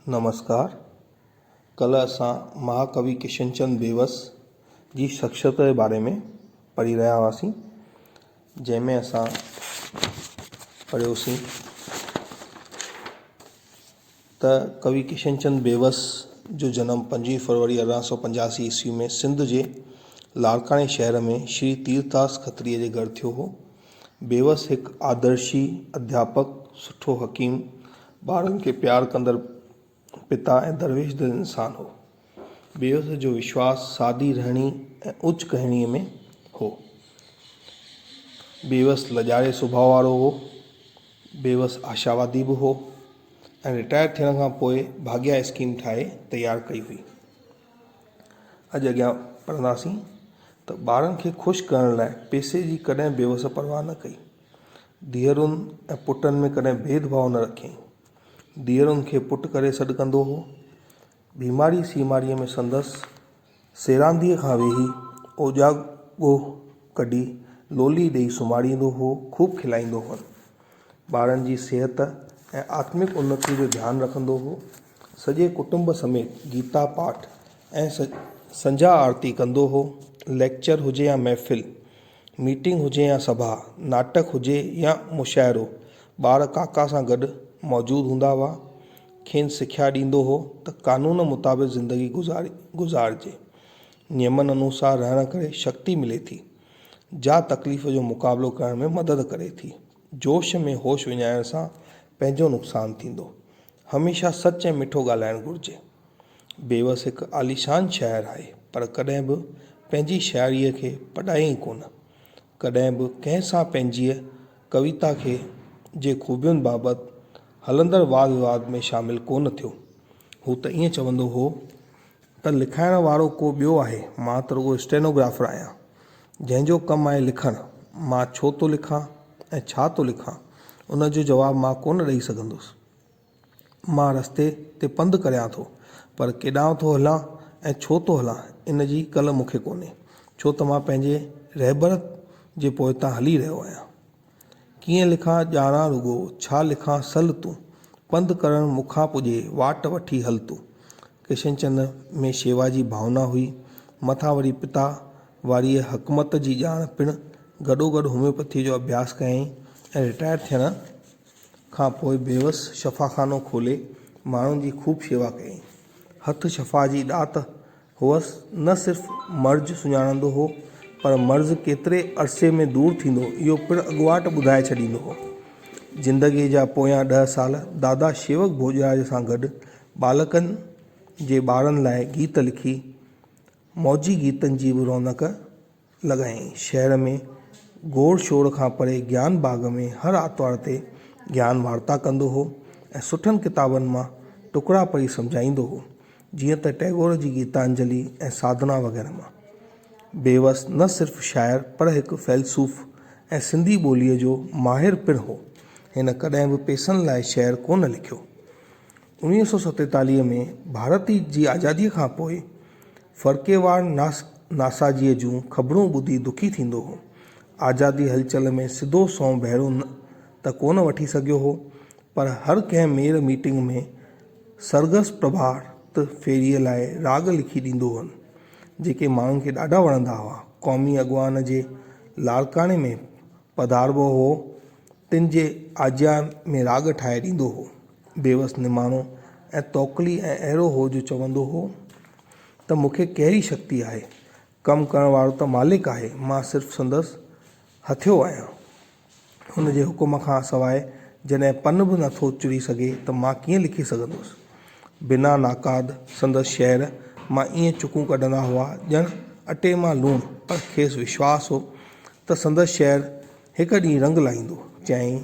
نمسڪار، ڪلهه اسان مهاڪوي ڪشن چند بيوس جي شخصيت جي باري ۾ پڙهي رهيا هئاسين جنهن ۾ اسان پڙهيوسين ته ڪوي ڪشن چند بيوس جو جنم پنجويهه فروري ارڙهن سو پنجاسي عيسوي ۾ سنڌ جي لاڙڪاڻي شهر ۾ شري تيرٿاس کتريء جي گهر ٿيو هو بيوس هڪ آدرشي اڌياپڪ، سٺو حڪيم، ٻارن کي پيار ڪندڙ پتا ۽ درويش دل انسان هو. بيوس جو وشواس سادي رهڻي ۽ اوچ ڪهڻي ۾ هو. بيوس لڄاري سڀاء وارو هو. بيوس آشاوادي به هو ۽ رٽائر ٿيڻ کان پوء ڀاڳيا اسڪيم ٺاهي تيار ڪئي هئي. اڄ اڳيان پڙهنداسين ته ٻارن کي خوش ڪرڻ لاء پئسي جي ڪڏهن بيوس پرواهه نه ڪئي. ڌيئرن ۽ پٽن ۾ ڪڏهن ڀيد ڀاء نه رکيائين. ڌيئرن کي پٽ ڪري سڏ ڪندو هو. بيماري سيماريء ۾ سندس سيرانديء کان ويهي اوجاڳو ڪڍي لولي ڏيئي سمهاريندو هو، خوب کلائيندو هئن. ٻارن جي صحت ۽ آتمڪ انتي جو ڌيان رکندو هو. سڄي ڪٽنب سميت گيتا پاٺ ۽ سنجهه آرتي ڪندو هو. ليڪچر هجي يا محفل، ميٽنگ هجي يا سڀا، ناٽڪ هجي يا مشاعرو، ٻار ڪاڪا سان گڏ موجود هوندا هئا. کين سکيا ڏيندو هو ته قانون مطابق زندگي گذارجي. نيمن انوسار رهڻ ڪري شڪتي ملي ٿي. جا تڪليف جو مقابلو ڪرڻ ۾ مدد ڪري ٿي. جوش ۾ هوش وڃائڻ سان پنهنجو نقصان ٿيندو. هميشه سچ ۽ مٺو ڳالهائڻ گهرجي. بيوس هڪ عاليشان شاعر آهي پر ڪڏهن به پنهنجي شاعريء کي پڏايائين ڪونه. ڪڏهن به ڪنهن سان پنهنجيء ڪويتا کي جي خوبين بابت هلندڙ واد ويواد ۾ شامل ڪونه ٿيو. هو ته ائين چوندو هو. ته لکائڻ وارو ڪو ٻيو آهي، مان ته رڳو اسٽينوگرافر آهيان، جنهن جو ڪم آهي لکڻ، مان ڇو ٿو لکان ۽ ڇا ٿو لکان، ان جو جواب مان ڪونه ڏئي سگهندس. مان رستي تي پنڌ ڪريان ٿو، پر ڪيڏانهن ٿو هلان ۽ ڇو ٿو هلان، ان جي ڪل مون کي ڪونهي، ڇو ته مان پنهنجي رهبر جي پوئتان هلي رهيو آهيان. ڪيئن لکان ڄاڻان رڳو، ڇا لکان سل تون، پنڌ ڪرڻ مون کان پڄي، واٽ وٺي هل تون. ڪشن چند ۾ شيوا جي ڀاونا هئي، مٿان وري پتا واريء حڪمت جي ڄاڻ پڻ، گڏوگڏ هوميوپيٿيء جو اڀياس ڪيائين ۽ رٽائر ٿيڻ کان پوء بيوس شفاخانو کولي ماڻهن جي خوب شيوا ڪيائين. هٿ شفا جي ڏات هو نه صرف مرض سڃاڻندو هو، پر مرض ڪيتري عرصي ۾ دور ٿيندو، اهو پڻ اڳواٽ ٻڌائي ڇڏيندو هو. زندگيء جا پويان ڏهه سال دادا شيوڪ ڀوڄراج سان گڏ ٻالڪن جي ٻارن لاء گيت لکي، موجي گيتن جي به رونق لڳائين. شهر ۾ گوڙ شوڙ کان پري گيان باغ ۾ هر آرتوار تي گيان وارتا ڪندو هو ۽ سٺن ڪتابن مان ٽڪرا پڙهي سمجهائيندو هو، جيئن ته ٽئگور جي گيتانجلي ۽ ساڌنا وغيره مان. بيوس نه صرف شاعر پر هڪ فيلسوف ۽ سنڌي ٻوليء جو ماهر پڻ هو. هن ڪڏهن به پيسن لاء شعر ڪونه لکيو. انويهه سؤ ستيتاليهه ۾ ڀارت جي آزاديء کان پوء فرقيوار ناسازيء جون خبرون ٻڌي دکي ٿيندو هو. آزادي هلچل ۾ سڌو سنئون ڀيرو ته ڪونه وٺي سگهيو هو، پر هر ڪنهن ميڙ ميٽنگ ۾ سرگس پرڀات ڦيريء لاء راڳ لکي ڏيندو هئن، جيڪي ماڻهن کي ڏاڍا وڻندا هئا. قومي اڳواڻ جي لاڙڪاڻي ۾ پڌاربو هو، تن جي آجيان ۾ راڳ ٺاهي ڏيندو هو. بيوس نماڻو ۽ توڪلي ۽ اهڙو هو جو چوندو هو ته مون کي ڪهڙي شڪتي آهي، ڪم ڪرڻ وارو ته مالڪ آهي، مان صرف سندس هٿيو آهيان. هن جي حڪم کان سواء جڏهن پن به نٿو چڙهي سگهي ته مان ڪيئن لکي سگهندس. بنا ناقاد سندس شعر مان ائين چڪون ڪڍندا هئا ڄڻ اٽي مان لوڻ پر کيس وشواس هو ته سندس شعر هڪ ڏينهن رنگ لائيندو. چيائين،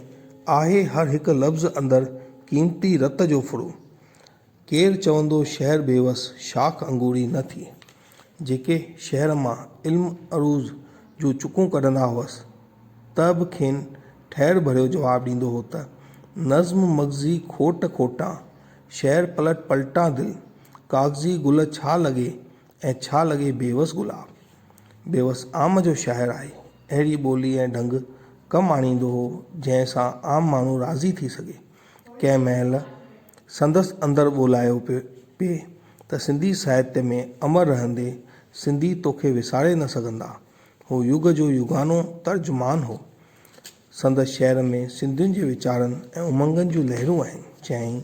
آهي هر هڪ لفظ اندر قيمتي رت جو ڦڙو. ڪير چوندو شهر بيوس شاخ انگوري نه ٿي. جيڪي شهر مان علم عروض جون چڪون ڪڍندا هئس ته به کين ٺهر ڀريو جواب ڏيندو هو ته، نظم مغزي کوٽ کوٽان، شعر پلٽ پلٽان دل، ڪاغذي گل ڇا لڳي ۽ ڇا لڳي بيوس گلاب. بيوس عام جو شاعر آهي. اهڙي ٻولي ۽ ڍنگ ڪم آڻيندو هو، جنهن سان عام ماڻهو راضي ٿي سگهي. ڪنهن مهل سندس اندر ٻولايو پئي ته سنڌي ساهتيه ۾ امر رهندي سنڌي توکي وساري نه سگهندا. هو يگ جو يگانو ترجمان هو. سندس شعر ۾ سنڌين جي ويچارن ۽ امنگن جون لهرون آهن. چيائين،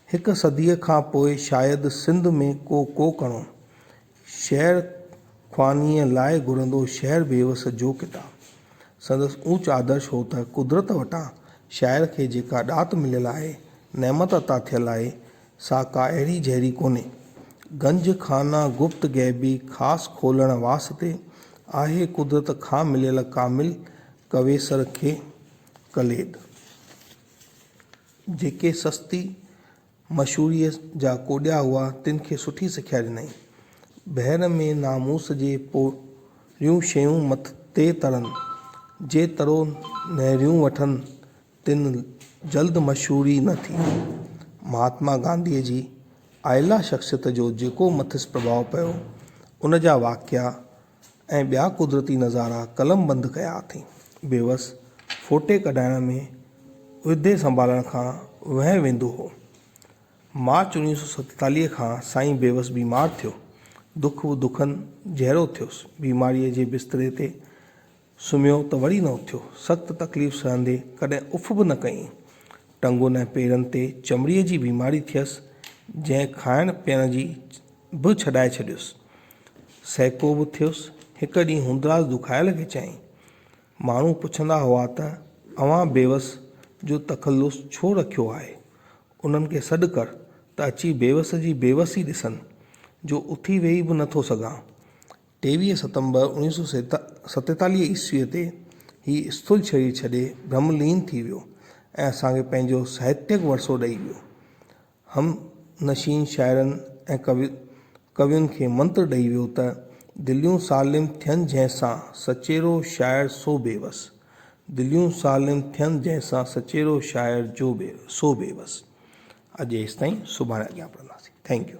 هڪ صديء کان پوء شايد سنڌ ۾ ڪو ڪوڪڻو، شعر خوانيء لاء گهرندو شعر بيوس جو ڪتاب. سندس اوچ آدرش هو ته قدرت وٽان شاعر کي جيڪا ڏات مليل آهي، نعمت عطا ٿيل آهي، سا ڪا اهڙي جهڙي ڪونهي. گنج خانه گپت غيبي خاص کولڻ واسطي آهي قدرت کان مليل ڪامل ڪويسر کي ڪليد. جيڪي سستي. مشهوريء جا ڪوڏيا هئا، تن کي سٺي سکيا ڏنائين. بحر ۾ ناموس جي پوريون شيون مٿي ترن، جي ترو نهريون وٺن، تن جلد مشهوري نه ٿي. مهاتما گانڌيء جي اعليٰ شخصيت جو جيڪو مٿس پرڀاء پيو، ان جا واقعا، ۽ ٻيا قدرتي نظارا قلم بند ڪيا اٿئين. بيوس ڦوٽي ڪڍائڻ ۾ عهدي سنڀالڻ کان وهنء ويندو هو. مارچ اوڻيهه سؤ ستيتاليهه کان سائين بيوس بيمار ٿيو. دک و دکن جهيڙو ٿيس. بيماريء جي بستري تي سمهيو ته وري نه اٿيو. سخت تڪليف سهندي ڪڏهن اف به نه ڪيائين. ٽنگن ۽ پيرن تي چمڙيء جي بيماري ٿيس، جنهن کائڻ پيئڻ جي به ڇڏائي ڇڏيس. سهڪو به ٿيس. هڪ ڏينهن هوندراز دکايل کي چيائين، ماڻهو پڇندا هئا ته اوهان بيوس جو تخلص ڇو رکيو آهي؟ انهن کي سڏ ڪر ته اچي بيوس جي بيوس ئي ڏسن، جو اٿي ويهي به نه ٿو سگهان. ٽيويهه ستمبر اوڻيهه سؤ ستيتاليهه عيسويء تي هي اسٿول شرير ڇڏي برهم لين ٿي ويو ۽ اسان کي پنهنجو ساهتيڪ ورثو ڏئي ويو. هم نشين شاعرن ۽ ڪوين کي منتر ڏئي ويو ته، دليون سالم ٿين جنهن سان، سچيرو شاعر سو بيوس. دليون سالم ٿين جنهن سان، سچيرو شاعر جو سو بيوس. اڄ ايستائين، سڀاڻي اڳيان پڙهنداسين. Thank U.